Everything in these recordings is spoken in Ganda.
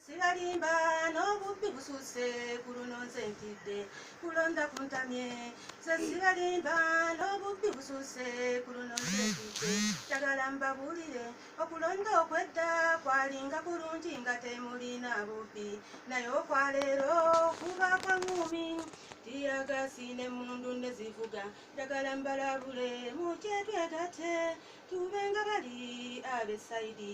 sibalimba n'obubbi busuuse ku luno nze ntidde kulonda kuntamye ze sibalimba n'obubbi busuuse ku luno nze ntidde njagala mbabuulire okulonda okwedda kwalinga kulungi nga temulina bubbi naye okwaleero kuba kwaŋumi tiyagasi ne mundu ne zivuga njagala mbalabule mukyetwegate tube nga bali abesaidi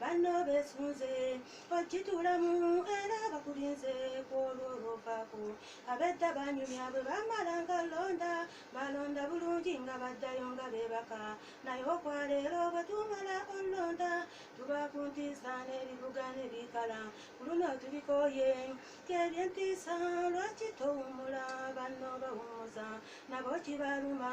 banno besunze okitulamu era bakulinze kwolwo olwovaako abedda banyumya bwe bamala nga londa balonda bulungi nga baddayo nga beebaka naye okwaleero bwe tumala olonda tuba ku ntiisa n'ebibuga ne bikala ku luno tubikooye kebyentiisa lwaki towumula banno bawumuza nabo kibaluma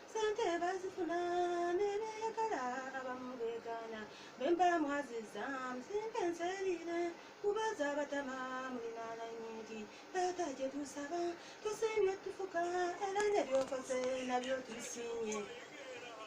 sente bazifuna nebeyagala abamu begaana bemba mwaziza musinga enserire kubaza abatama mulinaana nyingi taata gye tusaba tusiimye tufuka era nebyokoze nabyo tusiimye